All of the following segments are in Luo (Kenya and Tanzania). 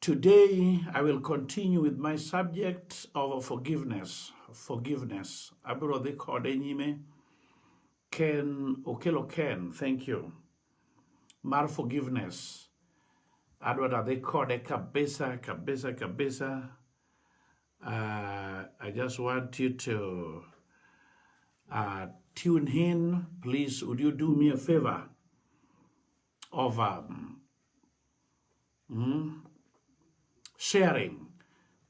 Today I will continue with my subject of forgiveness. Forgiveness. Abro dhi kode nyime. Ken Okelo Ken, thank you. Mar forgiveness. Adwa da dhi kode kabisa kabisa kabisa. Uh, I just want you to uh, tune in. Please, would you do me a favor of um, Mm. Sharing.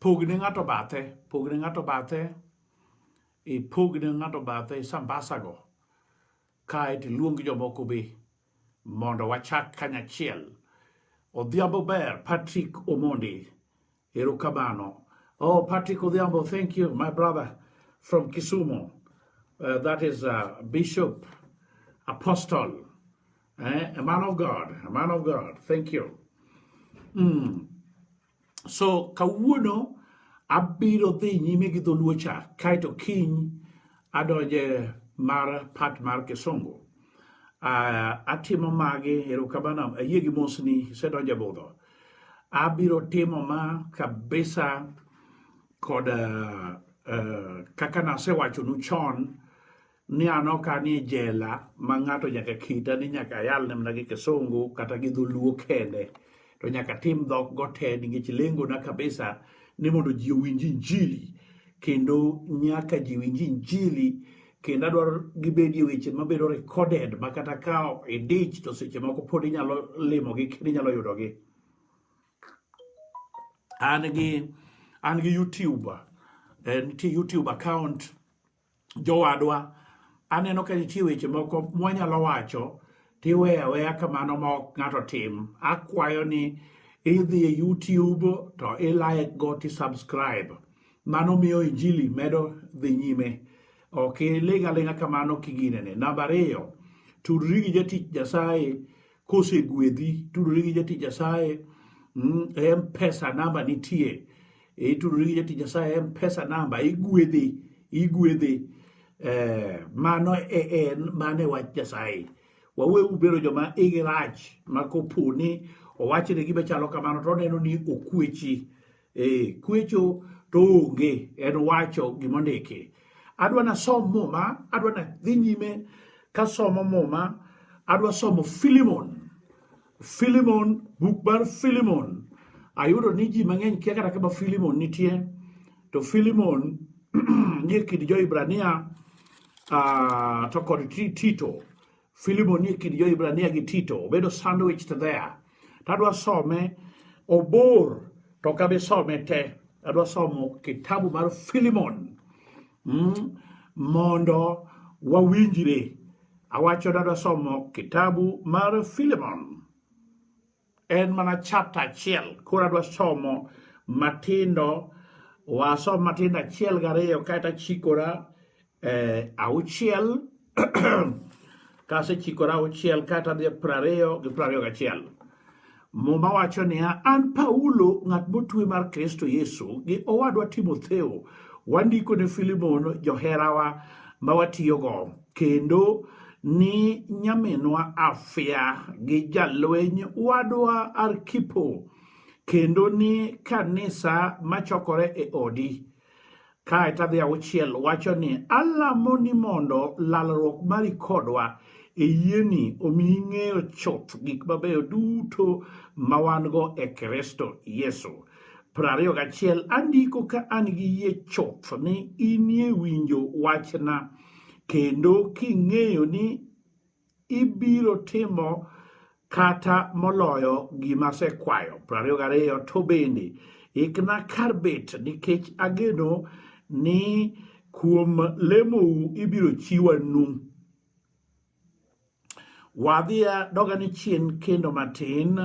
Pog ne ng'ato bathe, pog ne ng'ato bathe, ipog ne ng'ato bathe sambasago, kae to iluong jomoko be mondo wachak kanyachiel. Odhiambo ber, Patrick Omondi, Erukamano. Oh, Patrick Odhiambo, thank you, my brother from Kisumu. Uh, that is uh, Bishop, Apostle, eh? a man of God, a man of God. Thank you. Mm. So, kawuono abiro dhi nyime gi dholuocha kaito kiny adonje mar pat mar kisungu uh, atimo magi erokamano ayie gi mosni isedonje budho Abiro timo ma kabisa kod uh, uh, kaka nasewachonu chon ni an ok anie jela ma ng'ato nyaka kita ni nyaka ayal ne mana gi kisungu kata gi dholuo kende to nyaka tim dhok go te nikech lengona kabisa ni mondo ji owinj injili kendo nyaka ji winj injili kendo adwaro gibedi e weche mabedo recorded ma kata ka idich to seche moko pod inyalo limogi kendo inyalo yudogi an gi an gi youtube eh, nitie youtube account jowadwa aneno ka nitie weche moko mwanyalo wacho tiweyo aweya kamano ma ok ng'ato tim akwayo ni idhi e youtube to ilike go ti subscribe Mano miyo injili medo dhi nyime. Ok iling' aling'a kamano kiginene. Namba ariyo, tudri gi jatich Nyasaye kosegwedhi, tudri gi jatich Nyasaye mm, e mpesa namba nitie. Itudri e gi jatich Nyasaye e mpesa namba, igwedhi, igwedhi. Eh, mano e en mano e wach Nyasaye. Wawe ubedo joma igi rach ma kopo ni owachne gima chalo kamano to oneno ni okwechi. e kwecho to onge en wacho gima ondiki adwa nasom muma adwa nadhi nyime kasomo muma adwa somo filimon filimon buk mar filimon ayudo ni ji mang'eny kia kata kama filimon nitie to filimon nie kind jo-hibrania uh, to kod tito Filibo nie kind jo-Hibrania gi Tito, obedo sandwich there. To adwa some obor to ok abi some te. Adwa somo kitabu mar Filimon mm, mondo wawinjre. Awacho ni adwa somo kitabu mar Filimon. En mana chapta achiel, koro adwa somo matindo, wasom matindo achiel gariyo kaeto achikora eh, auchiel kasechikora auchiel kaeto adhi e prariyo gi prariyo gachiel. Muma wacho niya, an Paulo ng'at motwe mar Kristo Yesu gi owadwa Timotheo wandiko ne Filimon joherawa ma watiyogo kendo ni nyaminwa Afia gi jalweny wadwa Arkipo kendo ni kanisa machokore e odi kae tadhi auchiel wacho ni alamo ni mondo lalruok mari kodwa e yieni omi ing'eyo chuth gik mabeyo duto ma wan go e Kristo Yesu. Prariyo gachiel andiko ka an gi yie chuth ni inie winjo wachna kendo king'eyo ni ibiro timo kata moloyo gima asekwayo. Prariyo gariyo to bende ikna kar bet nikech ageno ni kuom lemou ibiro chiwa nu. Wadhiya doga ni chien kendo matin.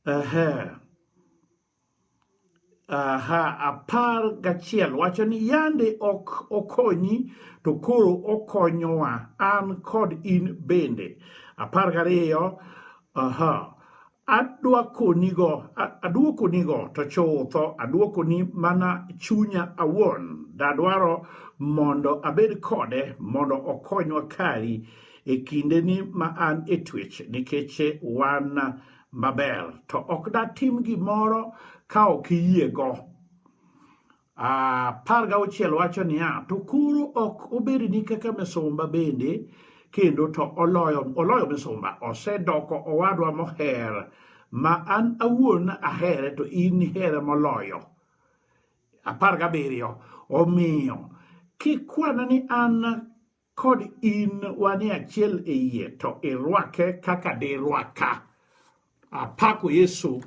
Ehe. Aha, apar gachiel wacho ni yande ok okonyi to koro okonyowa an kod in bende. Apar gariyo, aha, adwakonigo adwokonigo to chutho adwokoni mana chunya awuon dadwaro mondo abed kode mondo okonywa kari e kindeni ma an e twech nikech wan maber to ok datim gimoro ka ok iyiego apar ah, gauchiel wacho niya to koro ok obedni kaka misumba bende kendo to oloyo oloyo misumba osedoko owadwa moher ma an awuon ahere to in here moloyo apar gabiriyo omiyo kikwana ni an kod in wanie achiel e yie to irwake kaka dirwaka. Apako Yesu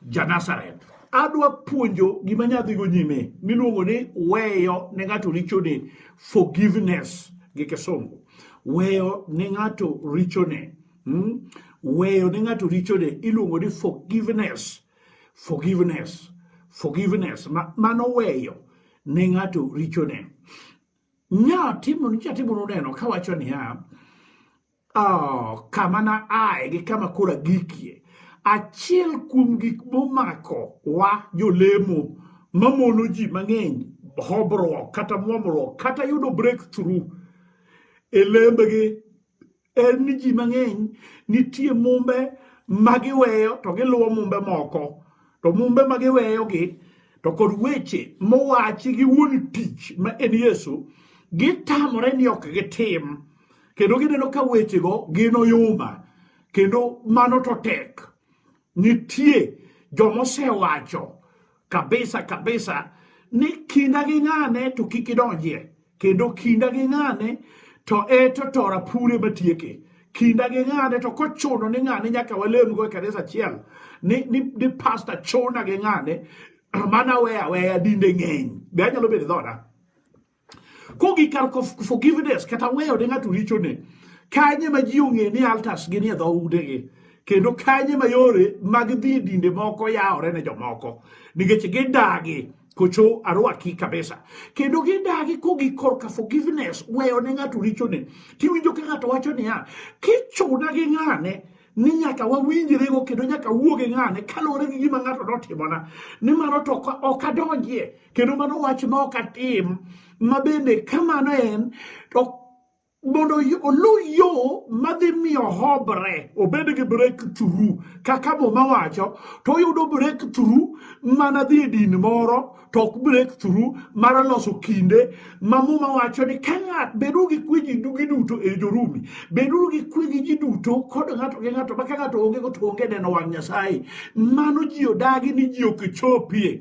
Janazareth. Adwa puonjo gima nyadhigo nyime miluongo ni weyo ne ng'ato richone forgiveness gi kisungu. Weyo ne ng'ato richone. Hmm? Weyo ne ng'ato richone iluongo ni forgiveness. Forgiveness. Forgiveness. Mano weyo ne ng'ato richone. Nyatimo nyatimo noneno kawacho niya, oh, kama na ae gi kama kora gikie achiel kuom gik momako wa jolemo mamono ji mang'eny hobruok kata mwomruok kata yudo breakthrough e lembgi en ni ji mang'eny nitie mumbe ma giweyo to giluwo mumbe moko to mumbe ma giweyogi to kod weche mowachi gi wuon tich ma en yesu gitamore ni ok gitim kendo gineno ka wechego gin oyuma kendo mano to tek nitie jomosewacho kabisa kabisa ni kinda gi ng'ane to kik idonjie kendo kinda gi ng'ane to eto to rapure matieke kinda gi ng'ane to kochuno ni ng'ane nyaka walemgo e kanisa achiel ni, ni, ni pasta chuna gi ng'ane mana weya weya dinde ng'eny be anyalo bedo dhoda Kogik kar forgiveness kata weyo ne ng'ato richone, kanye ma ji ong'e ni altas gi ni e dho udegi kendo kanye ma yore mag dhi e dinde moko yawore ne jomoko nikech gidagi kocho arwaki kabisa kendo gidagi kogi korka forgiveness weyo ne ng'ato richone tiwinjo ka ng'ato wacho niya kichuna gi ng'ane ni nyaka wawinjrego kendo nyaka wuoge ng'ane kaluwore gi gima ng'ato notimona nimano to ok adonjie kendo mano wach ma ok atim ma bende ka mano en to mondo oluw yo madhi miyo hobre obed gi breakthrough kaka muma wacho to oyudo breakthrough mana dhi e din moro to ok breakthrough mar loso kinde ma muma wacho ni ka ng'at bedo gi kwe ji duto e jorumi bedo gi kwe gi ji duto kod ng'ato gi ng'ato ma ka ng'ato onge go to onge neno wang' nyasaye mano ji odagi ni ji ok chopie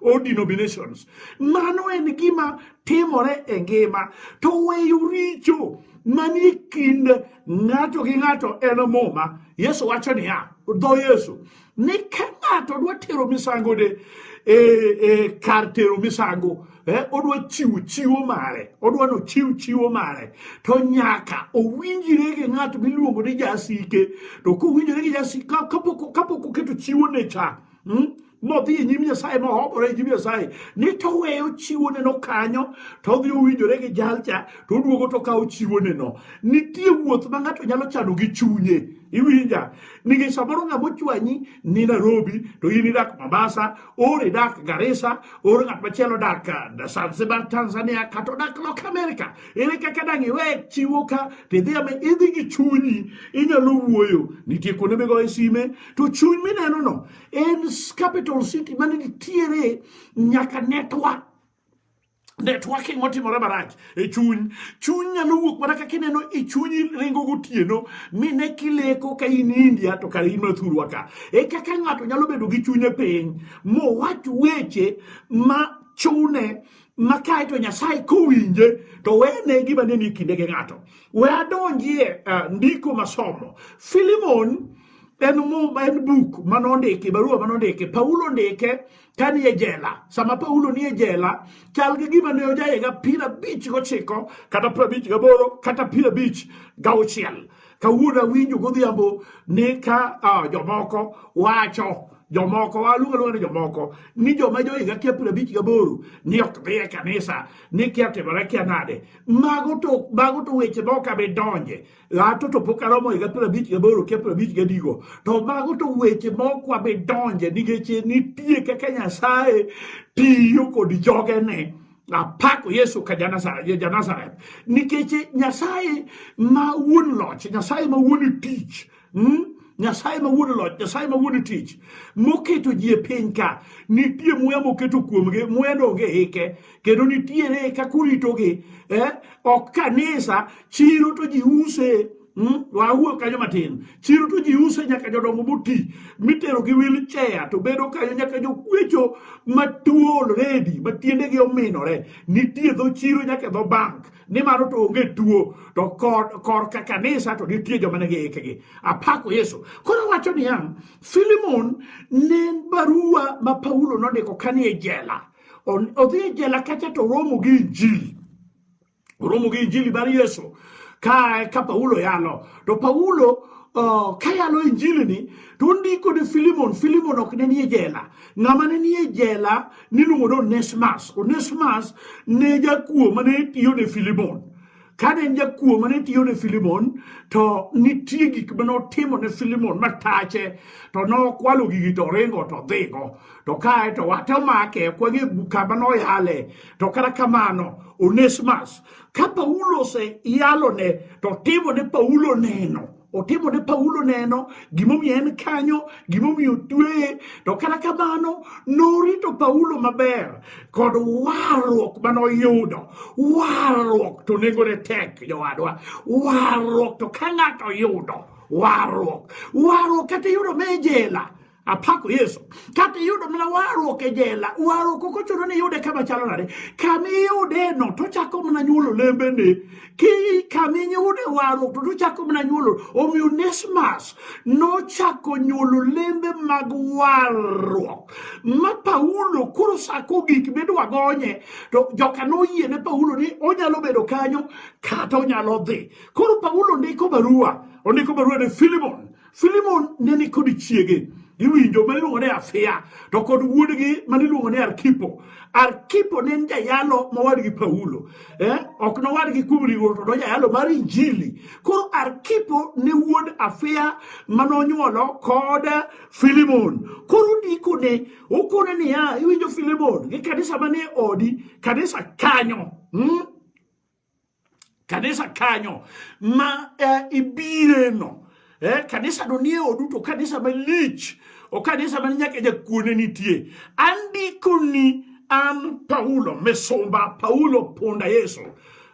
or denominations. Mano en gima timore e ngima to weyo richo manie kind ng'ato gi ng'ato en muma. Yesu wacho niya, dho Yesu ni ka ng'ato dwa tero misango de e, e, kar tero misango eh, odwa chiwo chiwo mare odwa no chiw chiwo mare to nyaka owinjire gi ng'at miluongo ni jasike to kowinjire gi jasike kapok oketo chiwo ne cha hmm? modhi e nyim nyasaye mohobore e nyim nyasaye ni toweyo chiwoneno kanyo to odhi owinjore gi jalcha to oduogo to kawo chiwoneno nitie wuoth ma ng'ato nyalo chano gi chunye iwinja nikech samoro ng'ama ochwanyi ni nairobi to in idak mombasa or idak garisa or ng'at machielo dak uh, zanzibar tanzania kata odak lok amerika ere kaka dang' iwe chiwo ka tidhi idhi gi chunyi inyalo wuoyo nitie kuonde migoye sime to chuny mineno no en capital city mane nitiere nyaka network networking otimore marach e chuny chuny nyalo wuok mana kaka ineno e chunyi ringo gotieno mine kileko ka in india to kare in mathurwa ka e kaka ng'ato nyalo bedo gi chunye piny mowach weche ma chune ma kae to nyasaye kowinje to wene gima ne ni kinde gi ng'ato we adonjie uh, ndiko masomo filimon en muma en buk ma nondiki barua ma nondiki paulo ndike ka ni e jela sama paulo ni e jela chal gi gima ne ojaye ga piero abich gochiko kata piero abich gaboro kata piero abich gauchiel kawuono awinjo godhiambo ni ka uh, jomoko wacho jomoko waluongo luongo ni jomoko ni joma johiga kia piero abich gaboro ni ok dhi e kanisa ni kia timore kia nade mago to mago to weche ma ok abi donje gato to pok aromo higa piero abich gaboro kia piero abich gadigo to mago to weche mok wabe donje nikech nitie kaka nyasaye tiyo kod jogene apako yesu ka janazareth nikech nyasaye ma wuon loch nyasaye ma wuon tich hmm? nyasaye ma wuon loch nyasaye ma wuon tich moketo ji e piny ka nitie muya moketo kuomgi muya donge hike kendo nitiere kaka uritogi eh? ok kanisa chiro to ji use Hmm? wawuo kanyo matin chiro to ji use nyaka jodongo moti mitero gi wilchea to bedo kanyo nyaka jokwecho matuo redi ma tiendegi ominore nitie dho chiro nyaka dho bank nimaro to onge tuo to kor, kor ka kanisa to nitie joma ne giikgi apako yesu koro wacho niya filimon ne barua ma paulo nondiko kanie jela odhi e jela kacha to oromo gi injili oromo gi injili mar yesu ka ka paulo yalo to paulo uh, ka yalo injili ni to ondiko ne filimon filimon ok ne nie jela ng'ama ne nie jela niluongo ni onesmas onesmas ne jakuo mane tiyo ne filimon kane en jakuo mane tiyo ne filimon to nitie gik mane otimo ne filimon matache to nokwalo gigi to ringo to dhigo to kae to wate omake kwang'e kama noyale to kata kamano onesmas ka paulo oseyalone to timo ne paulo neno otimo ne Paulo neno gimomiyo en kanyo gimomiyo otweye to kata kamano norito Paulo maber kod warruok mane oyudo warruok to nengone tek jowadwa warruok to ka ng'ato oyudo warruok warruok kata iyudo me jela apako yesu kata iyudo mana warruok e jela warruok ok ochuno ni iyude kama chalo nade kama iyudeno tochako mana nyuolo lembene ki kama iyude warruok to tochako mana nyuolo omiyo nesmas nochako nyuolo lembe mag warruok ma paulo koro sako gik midwa gonye to joka noyie ne paulo ni onyalo bedo kanyo kata onyalo dhi koro paulo ndiko barua ondiko barua ne filimon Filimon ne ni kod chiege iwinjo ma iluongo ni Afia to kod wuodgi ma niluongo ni Arkipo. Arkipo ne en jayalo mawadgi Paulo eh? ok nowadgi kuom riwruok to nojayalo mar Injili. Koro Arkipo ne wuod Afia ma nonyuolo kod Filimon. Koro ndikone okone niya, iwinjo Filimon gi kanisa manie odi, kanisa kanyo hmm? kanisa kanyo ma eh, ibireno eh, kanisa do nie odu to kanisa malich o kanisa man nyaka jakuone nitie andikoni an paulo misumba paulo punda yesu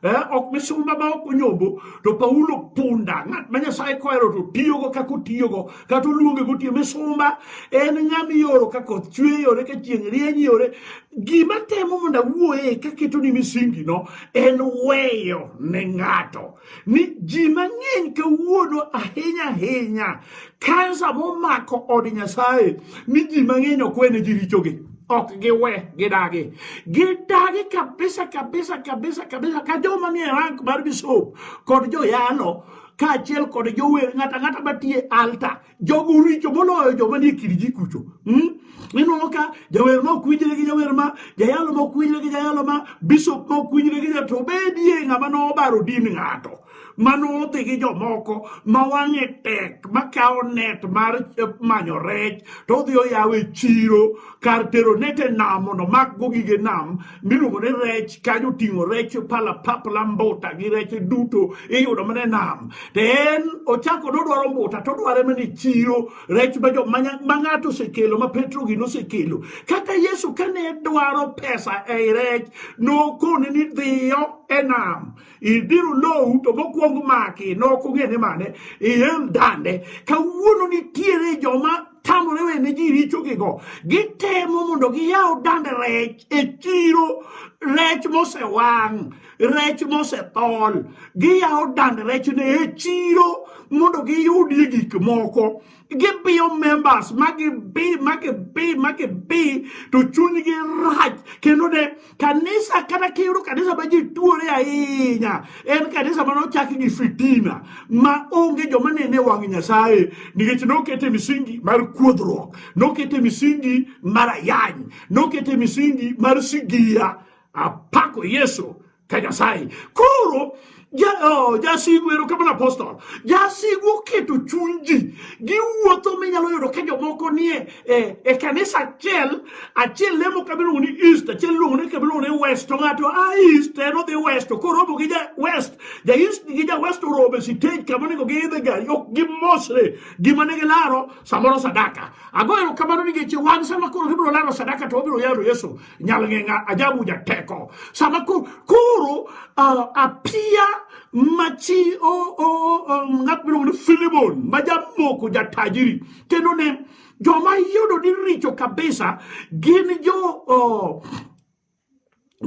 eh, ok misumba ma ok onyombo to paulo punda ng'at ma nyasaye kohero to tiyogo kaka otiyogo kata oluonge gotiyo misumba en ng'ama iyoro ka koth chwe yore ka chieng' rieny yore gima temo mondo awuoye kaketo ni misingi no en weyo ne ng'ato ni ji mang'eny kawuono ahinya ahinya kansa momako od nyasaye ni ji mang'eny ok wene ji richogi ok giwe gidagi gidagi kabisa kabisa kabisa kabisa ka joma nie rank mar bisop kod joyalo kaachiel kod jower ng'ata ng'ata matie alta jogo uricho moloyo joma nie kirji kucho hmm? ineno ka jawer ma ok winjre gi jawer ma jayalo ma ok winjre gi jayalo ma bishop ma ok winjre gi jato bedie ng'ama nobaro din ng'ato manodhi gi jomoko ma wang'e tek makawo net mar eh, manyo rech to odhi oyawe chiro kar tero net e nam mondo makgo gige nam miluongo ni rech kanyo oting'o rech pala papla mbuta gi rech duto iyudo mana e nam to en ochako nodwaro mbuta to odware mana e chiro rech ma ng'ato osekelo ma petro gino osekelo kaka yesu kane dwaro pesa ei rech nokone ni dhiyo e nam idiro lowu to mokwong maki nokong'e ni mane iel dande kawuono nitiere joma tamore wene ji richogigo gitemo mondo giyaw dand rech e chiro rech mosewang' rech mosethol giyaw dand rech ne e chiro mondo giyudie gik moko gibiyo members magibi magibi magibi to chunygi rach kendo ne Kanisa kata kiyudo kanisa ma ji tuore ahinya en kanisa ma nochaki gi fitina ma onge joma nene wang' Nyasaye nikech nokete misingi mar kuodhruok, nokete misingi mar ayany, nokete misingi mar sigia. Apako Yesu ka Nyasaye. Koro Oh, jasigu ero kamano apostol jasigu oketo chuny ji giwuotho minyalo yudo ka jomoko nie e, e kanisa achiel achiel lemo kabiluongo ni east achiel luongo ni kabiluongo ni west to ng'ato a ah, east en odhi west to koromo gi ja west ja east gi ja west oromo e sitej kama onego giidhe gari ok gimosre gima ne gilaro samoro sadaka ago ero kamano nikech wan sama koro gibiro laro sadaka to wabiro yalo yesu nyalo ng'e nga ajabu jateko sama ko koro uh, apia machi o o um, ng'at miluongo ni Filimon ma jamoko jatajiri kendo ne joma yudo ni richo kabisa gin jo uh,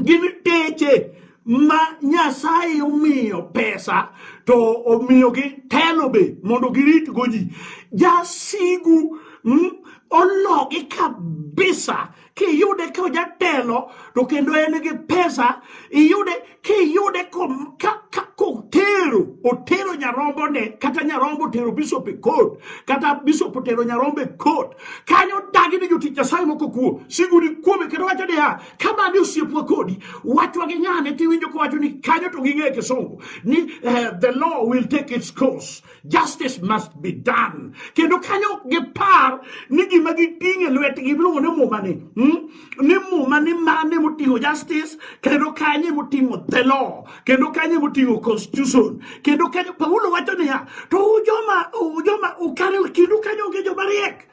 gin teche ma Nyasaye omiyo pesa to omiyogi telo be mondo giritgo ji jasigu mm, ologi kabisa kiyude ka ojatelo to kendo en gi pesa iyude kiyude kotero otero nyarombo ne kata nyarombo otero bishop e court kata bishop otero nyarombo e court kanyo dagi ni jotich nyasaye moko kuo siguni kuome kendo wacho niya kama ni osiepwa kodi wachwa gi nyane tiwinjo kowacho ni kanyo to ging'e kisungu ni uh, the law will take its course justice must be done kendo kanyo ok gipar ni gima giting' e lwetgi iluongo ni muma ni hmm? ni muma ni mane moting'o justice kendo kanye moting'o the law kendo kanye moting'o constitution kendo kanye paulo wacho niya to ujoma ujoma ukare kindu kanyo onge joma riek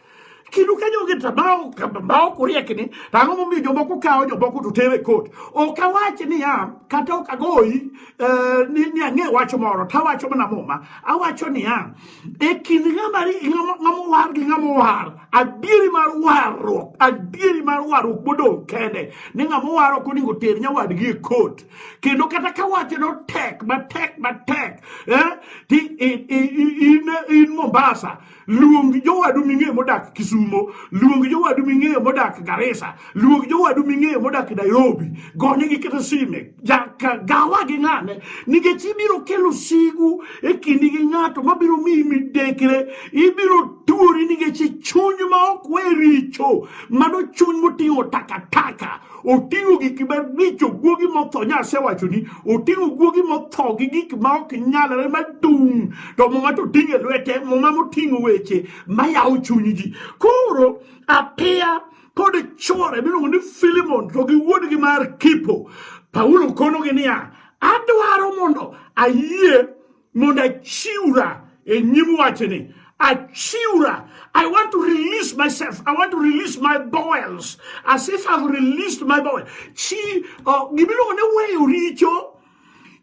Kendo ka jogi to ma ok uriekni, to ang'o momiyo jomoko kawo jomoko to tere kot? Ok awach niya, kata ok agoyi eh, ni, ni ang'e wach moro, to awacho mana muma. Awacho niya, e kind ng'ama war gi ng'ama war, adieri mar warruok, adieri mar warruok modong' kende, ni ng'ama war ok onego ter nyawadgi e kot. Kendo kata ka wache notek, matek, matek, eh, ti in, in, in, in Mombasa, luong jowadu ming'eyo modak Kisumo, luong jowadu ming'eyo modak Garissa, luong jowadu ming'eyo modak Nairobi, gone gi kata sime, gawa gi ng'ane, nikech ibiro kelo sigu e kindi gi ng'ato mabiro miyi midekre, ibiro tuori nikech chuny ma ok we richo, mano chuny moting'o takataka. oting'o gik maricho guogi motho nyase wachoni oting'o guogi motho gi gik ma ok nyalre madung' to muma to oting'o e lwete muma moting'o weche mayawo chuny ji koro apiya kod chwore miluongo ni filimon to gi wuodgi mar kipo paulo konogi niya adwaro mondo ayie mondo achiwra e nyim wachni achiwra i want to release myself i want to release my bowels as if i've released my bowel chi uh, gimiluongo ni weyo richo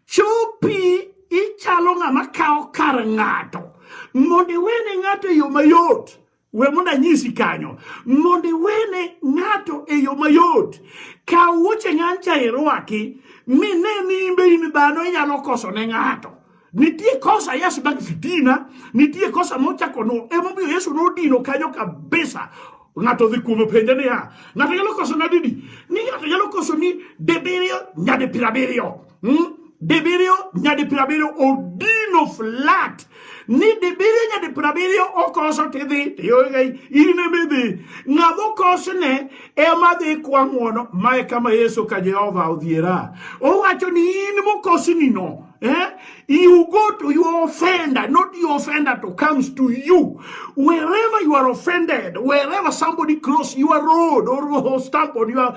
chopi ichalo ng'ama kawo kar ng'ato mondo iwene ng'ato e yo mayot we mondo anyisi kanyo mondo iwene ng'ato e yo mayot kaw wuoche ng'ancha irwaki mi ne ni imbe in dhano inyalo koso ne ng'ato nitie kosa yesu mag fitina nitie kosa mochako no emomiyo yesu nodino kanyo kabisa ng'ato dhi kuome penje niya ng'ato nyalo koso nadidi ni ng'ato nyalo koso ni dibiriyo nyadi pirabiriyo hmm? dibiriyo nyadi piero abiriyo odino flat ni dibiriyo nyadi piero abiriyo okoso tidhi tiyoga in emidhi ng'ama okosne ema dhi kwa ng'wono mae kama yesu ka jehova odhiera owacho ni in mokosnino Eh? You go to your offender, not your offender to comes to you. Wherever you are offended, wherever somebody cross your road or stump on your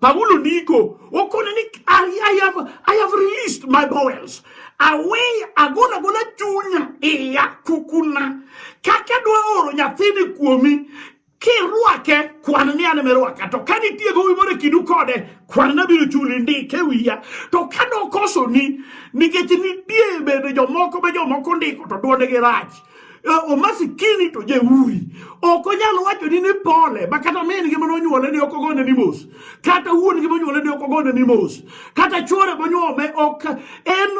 Paulo Nico, Okonanik, I, I have I have released my bowels. Away agona gona chunya iya kukuna. Kaka dwa oro nyathini kuomi kirwake kwan ni an merwaka to ka nitie gowi moro e kindu kode kwan nabiro chuli ndike wiya to ka nokosoni nikech nitie bende jomoko be jomoko ndiko to dwondgi rach Eh, omasikini to jeuri ok onyal wacho ni ni pole ma kata min gi mane onyuole ni ok ogone ni mos kata wuon gi monyuole ni ok ogone ni mos kata chuore monyuome ok en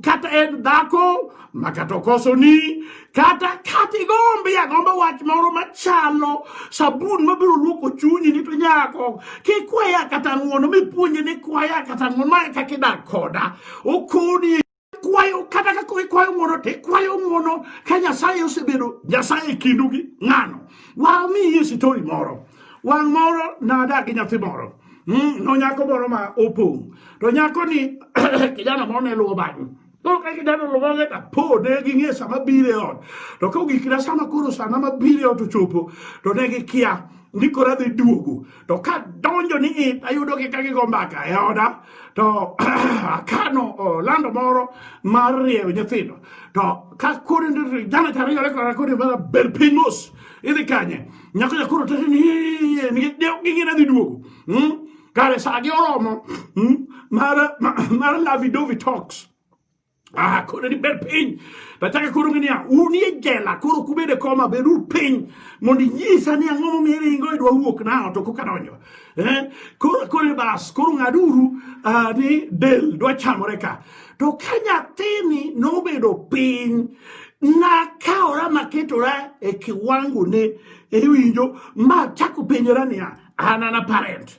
kata en dhako ma kata okoso ni kata kata igombi agomba wach moro machalo sabun mabiro luoko chunyi ni to nyako kikwaya kata ng'uono mipuonje ni kwaya kata ng'uono mae kaka idak koda okoni kwayo kata kaka ikwayo ng'uono to ikwayo ng'uono ka nyasaye osebedo nyasaye e kindu gi ng'ano wamiyi sitori moro wang' moro nadak gi nyathi moro hmm, no nyako moro ma opong' to nyako ni kijana moro ne luwo bang'e Oka kidano lomane ta po ne gi nge sama bire on. To ka ugikira sama koro sana ma bire on to chopo to ne gi kia. Ndiko radhi duogo. to ka donjo ni it ayudo gi ka gigo mbaka e oda to akano lando moro mar rieyo nyithindo to ka kori jana tariyo re kora kori mara ber piny mos idhi kanye nyako jakoro tete ni gingina dhi duogo hmm? kare sa gi oromo hmm? mar lavidovi talks Ah, koro ni bed piny. Nataka koro ng'e niya, unie jela, koro kubede koma, beduru piny mondo inyisa ni ang'o momiyo iringo idwa wuok nao to koka donjo. Eh? Koro koro bas, koro ng'aduru ah, ni del dwa chamore ka. To ka nyathini nobedo piny, nakawora maketora e kiwango ne iwinjo ma chako penjora niya, an an a parent.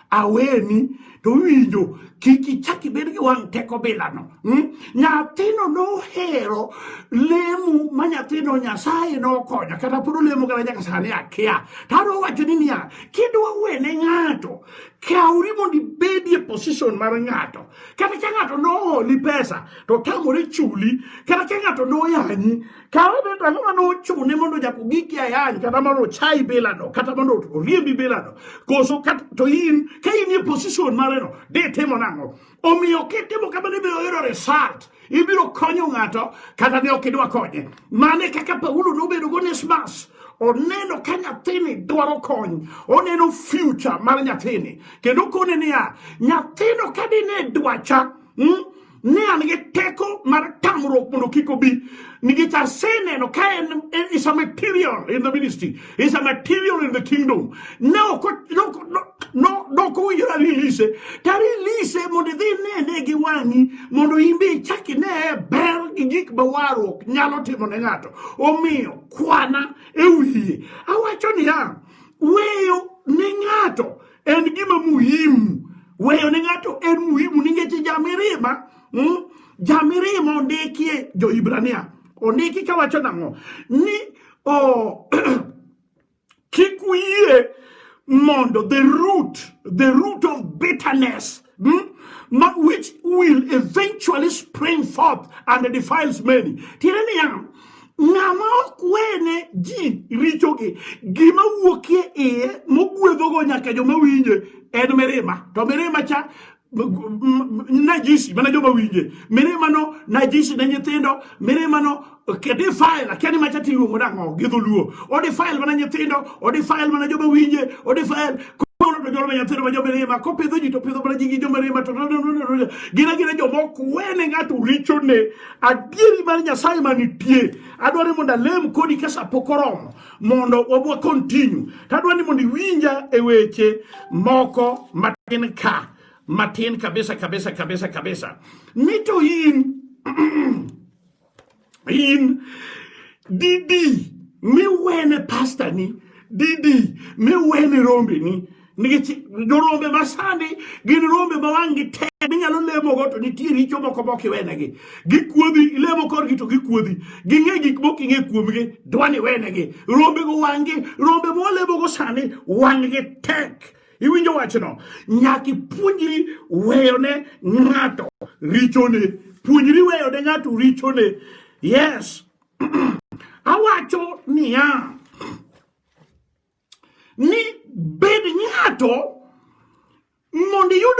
aweni to winjo kik ichak ibed gi wang' teko bilano hmm? nyathino nohero lemo ma nyathino nyasaye nokonya kata pod olemo kata nyaka sani akia to adwa wacho ni niya kidwa wene ng'ato kawri mondo ibedie position mar ng'ato kata ka ng'ato noholi pesa to otamore chuli kata ka ng'ato noyanyi Ka wadhi to ang'o mane ochune mondo nyaka ogiki ayany kata mondo ochayi bilano kata mondo oriembi bilano koso to in ka in e position mareno ditimo nang'o? Omiyo kitimo kamano ibiro yudo result ibiro konyo ng'ato kata ne ok idwa konye. Mane kaka Paulo nobedo go Onesmus oneno ka nyathini dwaro kony oneno future mar nyathini kendo kone niya nyathino ka dine dwacha mm, ne an gi teko mar tamruok mondo kik obi nikech aseneno ka en is a material in the ministry is a material in the kingdom ne ok dok owinjore release to release mondo idhi nene gi wang'i mondo in be ichak ine ber gi gik ma warruok nyalo timo ne ng'ato omiyo kwana e wiye awacho niya weyo ne ng'ato en gima muhimu weyo ne ng'ato en muhimu ningeche jamirima mm? jamirima ondikie johibrania ondiki kawacho nang'o ni oh, kik uyie mondo the root the root of bitterness Hmm? which will eventually spring forth and defiles many. Tiende niya, ng'ama ok wene ji richogi, gima wuokie iye mogwedhogo nyaka joma winje en mirima. To mirima cha najisi mana joma winje mirima no najisi ne nyithindo mirima no defile lakini macha tiluongo nang'o gi dholuo odefile mana nyithindo odefile mana joma winje odefile kono to jolma nyithindo ma jomirima kopidho ji to pidho mana ji gi jomirima to gin agina joma ok wene ng'ato richone adieri mar nyasaye manitie adwa ni mondo alem kodi ka sa pok oromo mondo wabwa continue to adwa ni mondo iwinja e weche moko matin ka matin kabisa kabisa kabisa kabisa ni to in in didi miwene pasta ni didi miwene rombe ni nikech jorombe masani gin rombe ma wang'gi tek minyalo lemogo to nitie richo moko mok iwenegi gikuodhi ilemo korgi to gikuodhi ging'e gik mok ing'e kuomgi dwani wenegi rombego wang'gi rombe molemogo sani wang'gi tek Iwinjo wachno? Nyaka ipuonjri weyone ng'ato richone. Puonjri weyone ng'ato richone. Yes. Awacho niya ni bed ng'ato mondo iyud